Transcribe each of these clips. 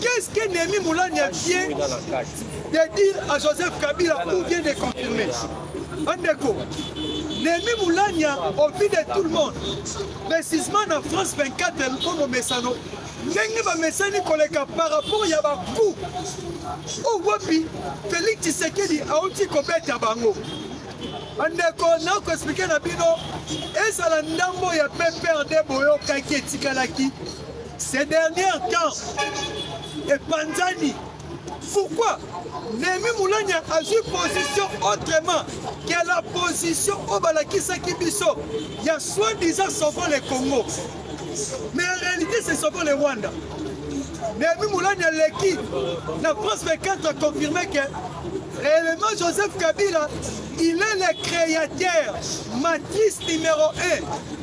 Qu'est-ce que Némi Moulania vient de dire à Joseph Kabila ou vient de confirmer Andeko, Némi Moulania, au vu de tout le monde, précisément en France 24, comme Messano, ndenge bamesani koleka par rapport ya baku oyo wapi félix tshisekedi auti kobeta bango bandeko nakoexplike na bino ezala ndambo ya pprd boyokaki etikalaki Ces derniers temps, epanzani pourquoi Nehemi Mulanya azwi position autrement que la position oyo balakisaki biso ya soi-disant sauvant le Congo mais en réalité c'est sauvant le Rwanda Nehemi Mulanya aleki na France 24 a confirmé que réellement Joseph Kabila il est le créateur matrice numéro 1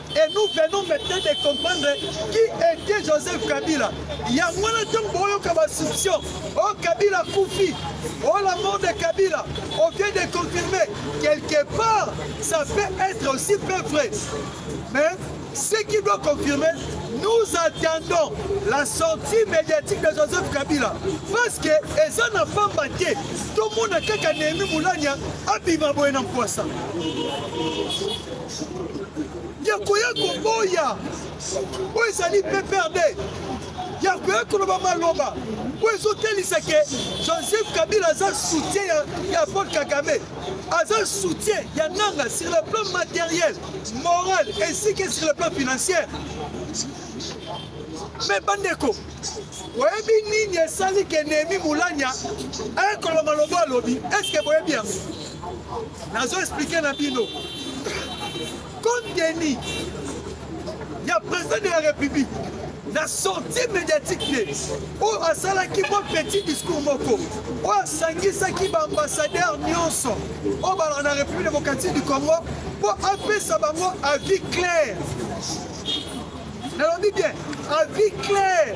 et nous venons maintenant de comprendre qui était Joseph Kabila. yango wana ntango boyoka basuption o oh, Kabila kufi o oh, la mort de Kabila on vient de confirmer quelque part ça peut être aussi peu vrai mais ce qui doit confirmer nous attendons la sortie médiatique de Joseph Kabila parce que eza na pamba te tomona kaka Nehemi Mulanya abima boye na mpwasa ya koya koboya oyo ezali pprd ya koya koloba maloba oyo ezotelisa ke joseph kabila aza soutien ya, ya paul kagame aza soutien ya nanga sur le plan matériel moral ainsi que sur le plan financier me bandeko oyebi nini esali ke nehemi mulanya ayekoloba maloba alobi eske boyebi yango nazo explike na bino konteni ya president de la république na sortie médiatique te oyo asalaki mwa petit discours moko oyo asangisaki baambassadeur nyonso oyo balaka na république démocratique du congo mpo apesa bango avis clair nalobi bien avis clair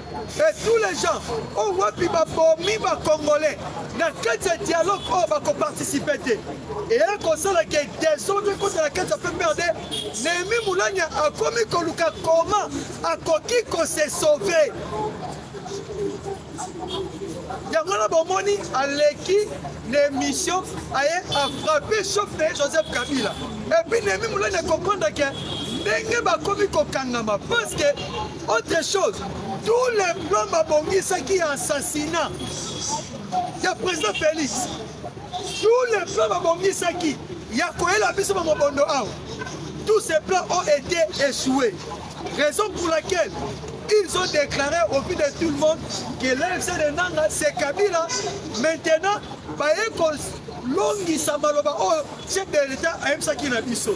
et tous les gens oyo wapi babomi ba congolais na kati ya dialogue oyo bakoparticipe te eya kosala ke desordre ekota na kati ya pprd nehemi mulanya akomi koluka koma akoki kose sauve yango wana bomoni aleki na émission aye afrape chauffe na ye joseph kabila epuis nehemi mulanya comprendre ke ndenge bakomi kokangama parce que Autre chose, tous les plans babongisaki ya assassinat ya président Félix, tous les plans babongisaki ya koyela biso ba mobondo awa, tous ces plans ont été échoués. Raison pour laquelle ils ont déclaré au vu de tout le monde que l'AFC de Nanga c'est Kabila. Maintenant, baye kolongisa maloba oyo chef de l'État ayebisaki na biso.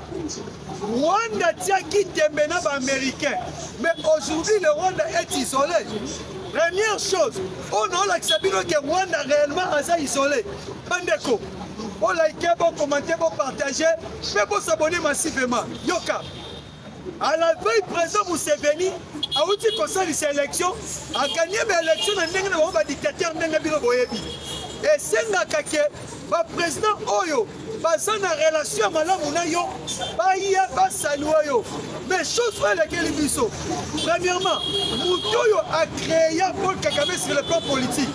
Rwanda tiaki tembe na ba américain mais aujourd'hui le Rwanda est isolé première chose oyo naolakisa bino ke Rwanda réellement aza isolé bandeko bolike bokomante bopartage mpe bosabone massivement yoka à la veille président Museveni awuti kosalisa élection akanyema élection na ndenge na bango badictateur ndenge bino boyebi esengaka ke ba president oyo baza na relation ya malamu na yo baya basalua yo mais chose oyo elekeli biso premièrement moto oyo acréa paul kagame sur le plan politique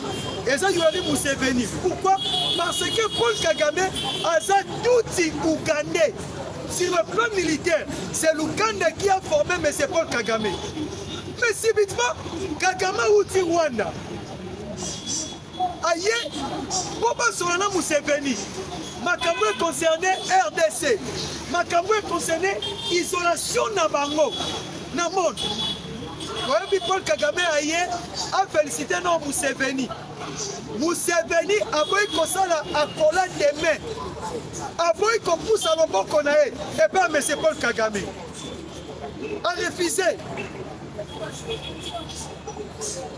eza yurali museveni pourquoi parce que paul kagame aza tuti ougandais sur le plan militaire c'est l'ouganda qui a formé m paul kagame mais subitement kagame auti rwanda aye mpo basolola na Museveni makambo e concerne RDC, makambo e concerne isolation na bango na monde. Oyebi Paul Kagame aye afelisite na Museveni. Museveni aboyi kosala akola demain, aboyi kopusa loboko na ye epai ya Monsieur Paul Kagame, arefuse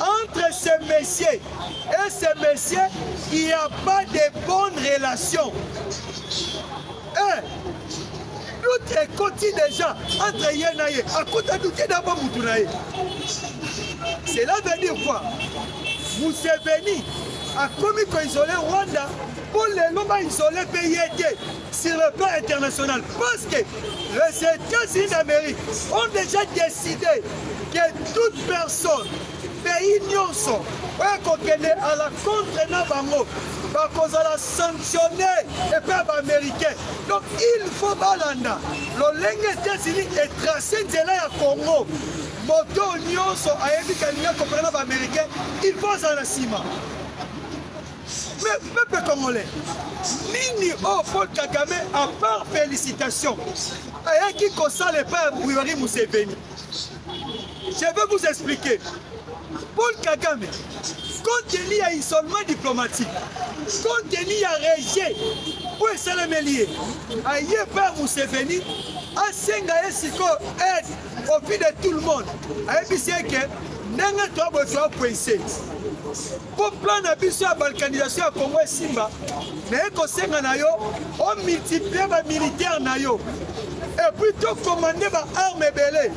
Entre ce monsieur et ce monsieur, il n'y a pas de bonne relation. Un, doute ekoti déjà entre ye na ye, akota doute na ba mutu na ye. Cela veut dire quoi? Museveni akomi ko isoler Rwanda mpo lelo ba isoler mpe ye te. sur le plan international parce que les États-Unis d'Amérique ont déjà décidé que toute personne, pays nyonso oyo kokende à la contre na bango bakozala sanctionné epai ya baaméricain donc il faut balanda lolenge états-unis etrace nzela ya congo moto nyonso ayebi kalingi akopela na baaméricain il faut azala na nsima Mais peuple congolais, nini oh Paul Kagame à part félicitations ayaki kosala epai ya Buyori Museveni. Je vais vous expliquer. Paul Kagame, compte tenu ya isolement diplomatique, compte tenu ya rejet oyo esalemeli ye, aye epai ya Museveni asenga ye sikoyo aide au vu de tout le monde, ayebisi ye ke ndenge toya boye toya poinse Mpo plan na biso ya balkanisation ya Congo esimba, naye kosenga na yo o multiplier ba militaire na yo epuis to commande ba arme ebele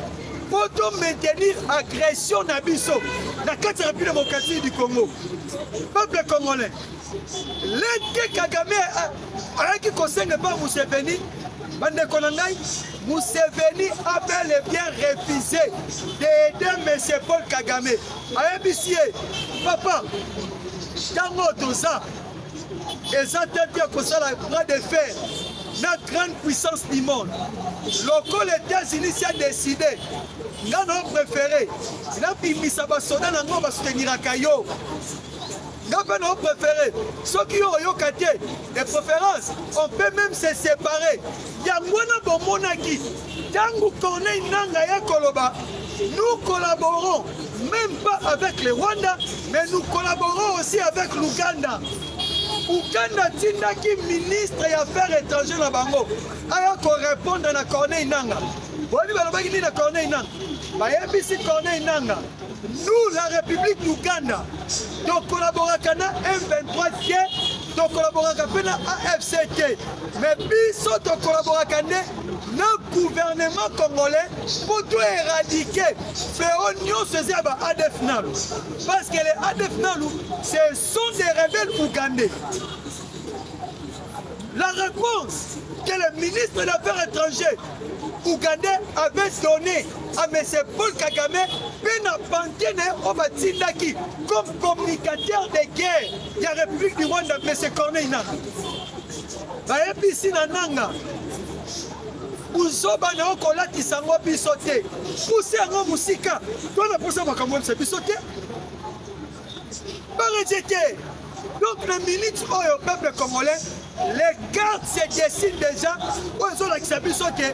mpo to maintenir agression na biso na kati ya Republique démocratique du Congo. Peuple congolais, leke Kagame ayaki kosenga epai Museveni bandeko na ngai Museveni a bel et bien refusé d'aider monsieur Paul Kagame ayebisi ye papa ntango oyo toza eza te te kosala bras de fer na grande puissance du monde lokola états-unis si adeside nga na opréféré nabimisa basoda na ngo basouteniraka yo nga mpe na opréféré soki yo oyoka te de préférence on peut même se séparer Yango wana bomonaki tango Corneille Nangaa aya koloba nous collaborons même pas avec le Rwanda mais nous collaborons aussi avec l'Ouganda Ouganda atindaki ministre ya affaires étrangères na bango aya korepondre na Corneille Nanga boyebi balobaki nini na Corneille Nanga bayebisi Corneille Nanga nous la République d'Ouganda tokollaboraka na M23 te tokolaboraka mpe na afc te me biso tokolaboraka nde na gouvernement congolais mpo to éradike feo nyonso eza ya ba adf nalu parce que les adf nalu ce sont des rebelles ougandais la réponse que le ministre des affaires étrangères ougandais avait donné à M. Paul Kagame mpe na pante na ye oyo batindaki comme communicateur de guerre ya République du Rwanda Monsieur Corneille Nanga bayebisi na Nanga buzoba na yo kolatisa yango biso te puse yango mosika to na mposa makambo yebisa biso te bareje te donc na minute oyo peuple congolais les cartes se dessine déjà oyo ezolakisa biso te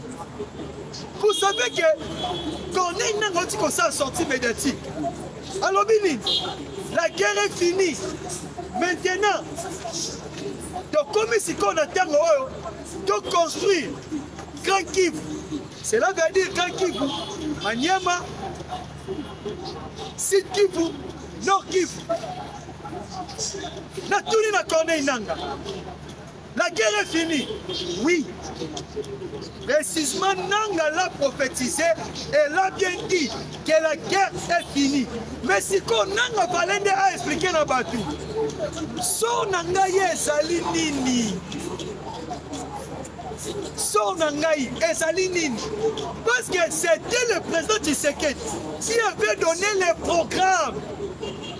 vous savez que corneille nanga auti kosala sortie médiatique alobi nini la guerre est finie maintenant tokomi sikoyo na ntango oyo toconstruire grand kivu cela veut dire grand kivu maniema sud kivu nord kivu natuni na corneille nanga La guerre est finie. Oui. Précisément, Nanga l'a prophétisé et l'a bien dit que la guerre est finie. Mais si qu'on Nanga Valende a expliqué na batu, son Nanga ezali nini? sort na ngai ezali nini parce que c'était le président tshisekedi qui avait donné les programmes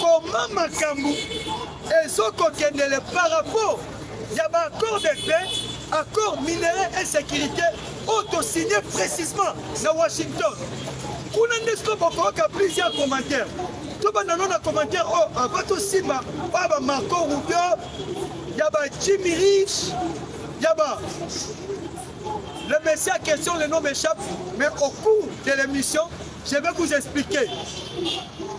Comment makambo ezokokendele par rapport ya ba accord de paix accord minerais et sécurité oyo tosigne précisement na washington kuna nde siko bokoyoka plusieurs commentaires tobanda no na commentaire oyo oh, ava tosimba oyo ba marco rubio ya ba jimmy rich ya ba le messie à question le nom m'échappe mais au cours de l'émission je vais vous expliquer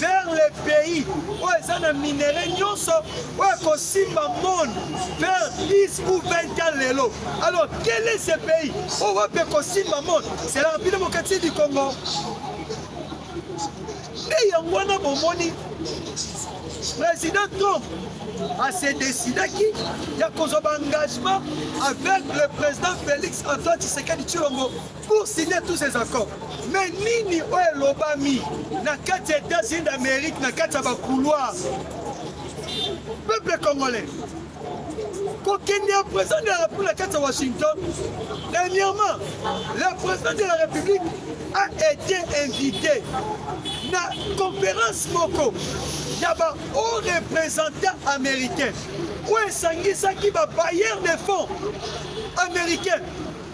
vers les pays oyo eza na minere nyonso oyo ekosimba monde vers 10 ou 20 ans lelo alors quel est ce pays oyo wapi ekosimba monde c'est la république démocratique du congo nde yango wana bomoni président trump ase decidaki ya kozwa baengagement avec le président félix antoine tshisekedi tshilombo pour signer tous ces accords mais nini oyo elobami na kati ya états-unis d'amérique na kati ya bacouloir peuple congolais kokende ya président de la république na kati ya washington dernièrement le président de la république a été invité na conférence moko ya bahaut représentant américain oyo esangisaki babayeur de fonds américain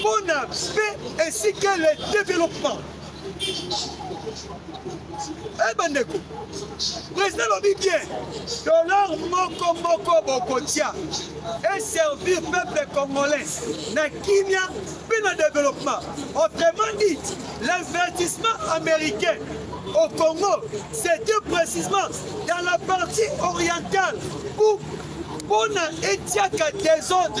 pour la paix ainsi que le développement. Eh bandeko, président lobi bien, dollar moko moko bokotia et servir peuple congolais na kimia mpe na développement. Autrement dit, l'investissement américain au Congo, c'était précisément dans la partie orientale où on a étiaka désordre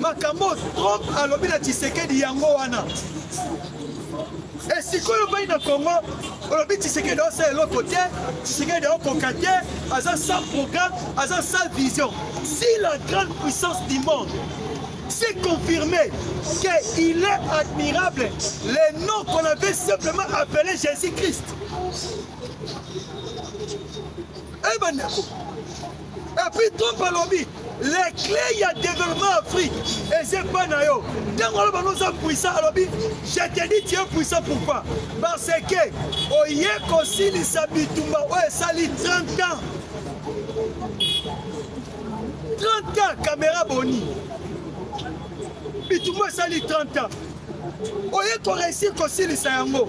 makambo Trump alobi na Tshisekedi yango wana esikoyo eh, bai na Congo olobi Tshisekedi osala eloko te Tshisekedi aokoka te aza sans programme aza sans vision si la grande puissance du monde c'est confirmé qu'il est admirable les noms qu'on avait simplement appelé Jésus-Christ. Eh ben, Et puis Trump alobi les clés ya développement Afrique eza epai na yo ntango aloba no oza puissant alobi je te dis tu es puissant pourquoi parce que oye kosilisa bitumba oyo esali 30 ans 30 ans caméra boni bitumba esali 30 ans oye koreusir kosilisa yango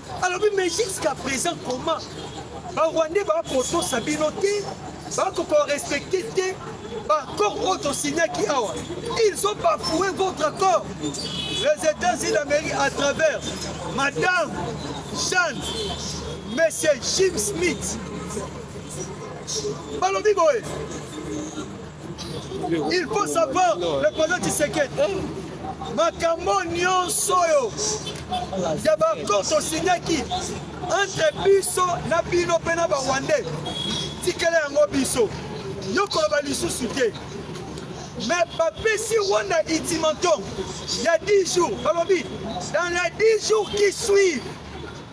alobi mais jusqu'à présent comment barwandais bakotosa bino te bakokorespecte te baaccord oyo tosignaki awa ils ont bafoue votre accord les états-unis d'amérique à travers madame jeanne monsieur jim smith balobi boye Il faut savoir le président Tshisekedi makambo nyonso oyo ya bakor tosinyaki entre biso na bino mpe na barwandais tikela yango biso yo koloba lisusu te me bapesi rwanda ultimatum ya 10 jours balobi dans les 10 jours qui suivent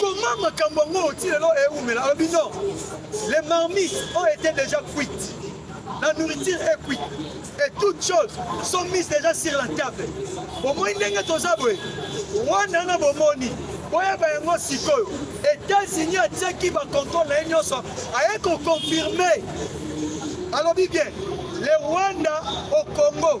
Comment makambo yango ti lelo ewumela alobi non les marmites ont été déjà cuites la nourriture est cuite et toutes choses sont mises déjà sur la table bomoi ndenge toza boye wana na bomoni boyeba yango sikoyo états-unis atiaki bacontrôle na ye nyonso aye koconfirme alobi bien le rwanda au congo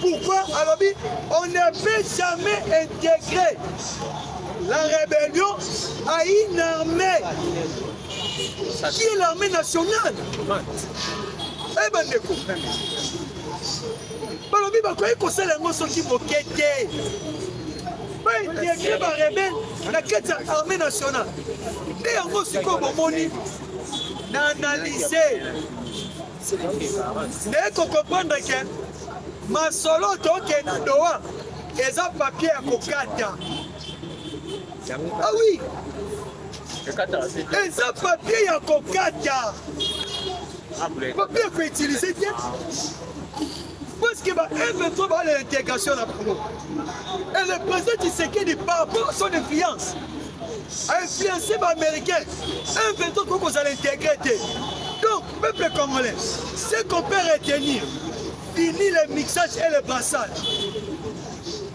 Pourquoi alobi on ne peut jamais intégrer la rébellion à une armée qui est l'armée nationale Eh ben bandeko balobi bakoki kosala yango soki moke te baintegre barebele na kati ya armée nationale nde yango sikoyo bomoni na analyse naye kokomprendre ke masolo toke na doa eza papier ya kokata awi ah eza papier ya kokata ah, papier ya koutilize te parce que ba M23 ba l'intégration na Congo. Et le président Tshisekedi par rapport à son influence a influencé ba américains. M23 koko za l'intégrer te. Peuple congolais, ce qu'on peut retenir, fini le mixage et le brassage.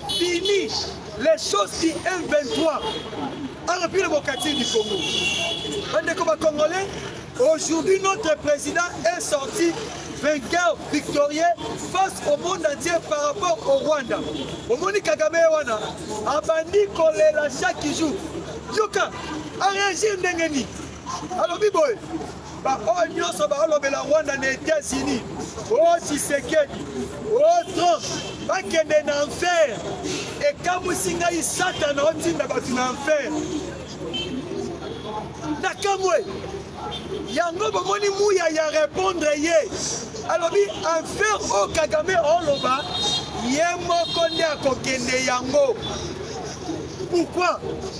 Fini les choses qui M23 a repris le bocatier du Congo. Bandeko ba congolais, aujourd'hui notre président est sorti vainqueur victorieux face au monde entier par rapport au Rwanda. Omoni Kagame wana abandi kolela chaque jour. Yoka, a réagir ndenge nini? alobi boye ba oyo nyonso baolobela rwanda na etats-unis o oh, tshisekedi o oh, trump bakende na enfer ekamwisi ngai satana otinda bato na enfer nakamwe yango bomoni muya ya repondre ye alobi enfer oyo oh, kagame oloba ye moko nde akokende yango pourkui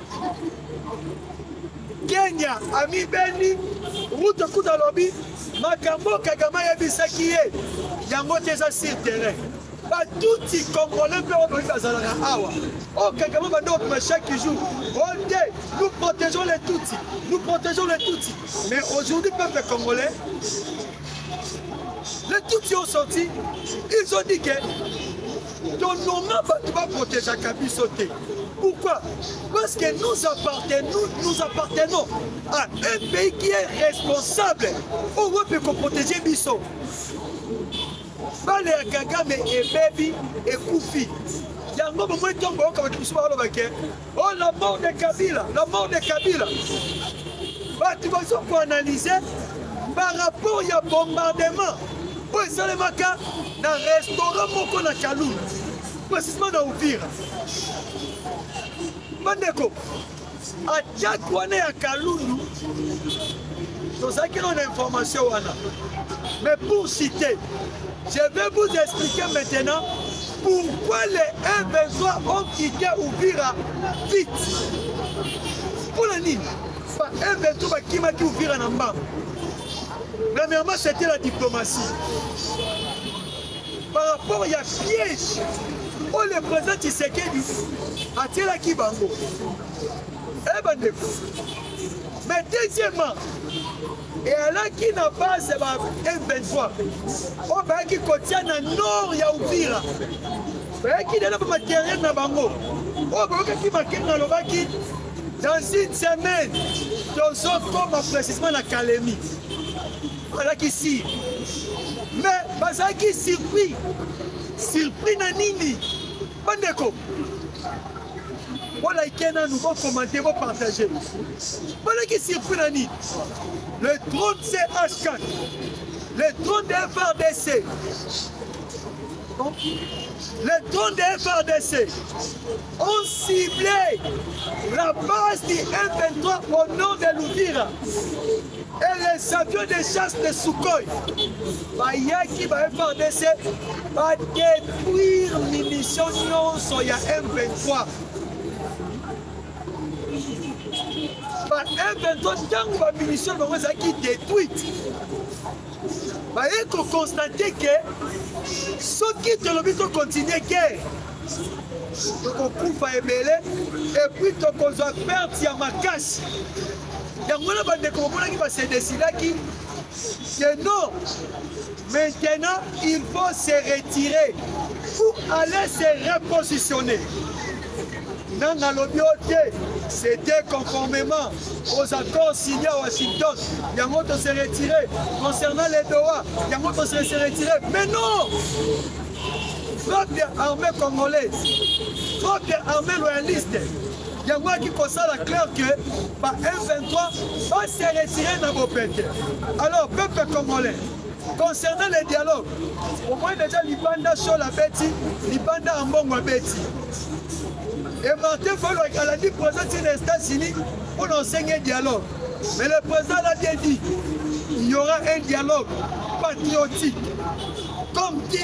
Kenya amibeni Ruto kuta lobi makambo Kagame ayebisaki ye yango te eza sur terrain batuti congolais mpe oyo bazalaka awa oyo oh, kagame bande obima chaque jour ote oh, nous protégeons les tutsi nous protégeons les tutsi mais aujourd'hui peuple congolais les tutsi ont sorti ils ont dit que To noma bato ba protegeaka biso te. Pourquoi Parce que nous appartenons, nous appartenons à un pays qui est responsable. On veut peut protéger biso. Bale ya Kagame ebebi ekufi. Yango bomoi ntongo bayoka bato mosusu baloba ke Oh la mort de Kabila, la mort de Kabila. Batu bazo ko analyser par rapport ya bombardement oyo esalemaka na restaurant moko na Kalou, précisément na Uvira. Bandeko, attaque wana ya Kalundu tozalaki na information wana mais pour citer Je vais vous expliquer maintenant pourquoi les M23 ont quitté Uvira vite. Pour la nini Ba M23 bakimaki Uvira na mbangu. Premièrement, c'était la diplomatie. Par rapport ya piège oyo le président Tshisekedi atielaki bango. Eh bandeko. Mais deuxièmement, eyalaki na base ya ba M23 oyo bayaki kotia na nord ya Uvira bayaki lelo ba materiel na bango oyo bayokaki makenga alobaki dans une semaine tozokoma précisément na kalemi alaki si mais bazalaki surpris surpris na nini Bandeko, bolike nanu, bokomante, bopartage. Bolaki surpris na nini? Le drone CH4, le drone de FRDC, donc les drones de FRDC ont ciblé la base du M23 au nom de Louvira. et les avions de chasse de Sukhoi bayaki ba FRDC ba détruire munition nyonso ya M23 ba M23 ntango ba munition bango ezalaki détruite baye kokonstate ke soki tolobi tokontinue guerre tokokufa ebele epuis tokozwa perte ya makasi yango wana bandeko bomonaki basedesilaki que non maintenant il faut se retirer pour aller se repositionner nga nalobi yo te c'était conformément aux accords signés à Washington yango to se retirer concernant les Doha yango to se retirer mais non frappe armée congolaise frappe armée loyaliste yango yaki kosala clair que ba M23 va se retirer na bopete. Alors peuple congolais concernant le dialogue omoi deja libanda shol abeti libanda ya mbongo abeti e martin folo alandi présent ti na états-unis mpo na osenge dialogue mais le président l'a bien dit il y aura un dialogue patriotique comme qui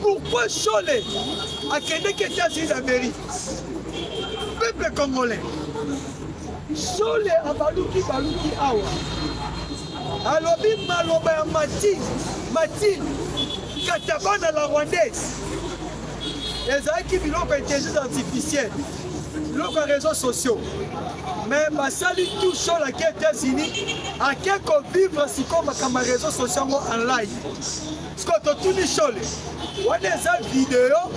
Pourquoi Shole akendeki Etats-Unis d'Amérique? Peuple congolais, Shole abaluki baluki awa, alobi maloba ya Martine Martine Katabana la rwandaise ezalaki biloko ya intelligence artificielle biloko ya réseaux sociaux mais basali tout shole ake États-Unis ake kovivre sikoyo makambo ya réseaux sociaux yango en live siko totuni shole wana eza video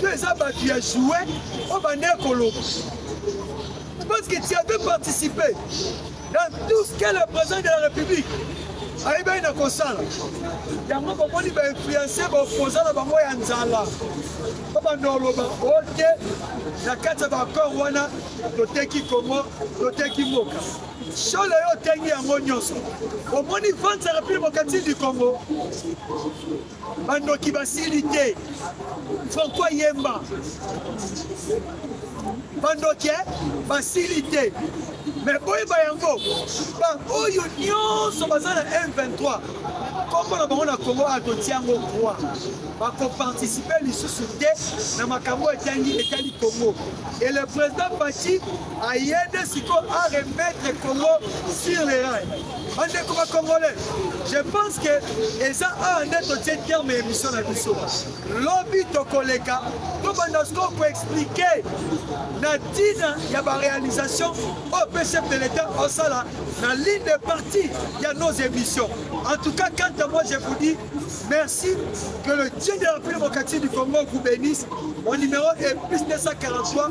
to eza bato ya joue oyo bande koloba parce que tu avais participé dans tout ce que le président de la république ayebaki na kosala yango bomoni bainfluence baopoza na bango ya nzala mpo banda oloba ote na kati ya baakor wana toteki kongo toteki mboka Shole yo otangi yango nyonso, omoni vente ya Republique Mercantile du Congo, bandoki basili te. Franco Yemba, bandoki eh, basili te me boyeba yango baoyo nyonso baza na m23 nkombo na bango na kongo atotia yango roi bakoparticipe lisusu te na makambo etangi etali kongo et le président pati aye nde sikoyo a remettre congo sur le rail bandeko ba congolais je pense que eza awa nde totie terme ya émission na biso lobi tokoleka tobanda sikoyo koexplike na ntina ya baréalisation oyo mpe chef de l'état osala na ligne de partie ya nos émissions en tout cas quant à moi je vous dis merci que le dieu de la république démocratique du congo vous bénisse mon numéro est plus 243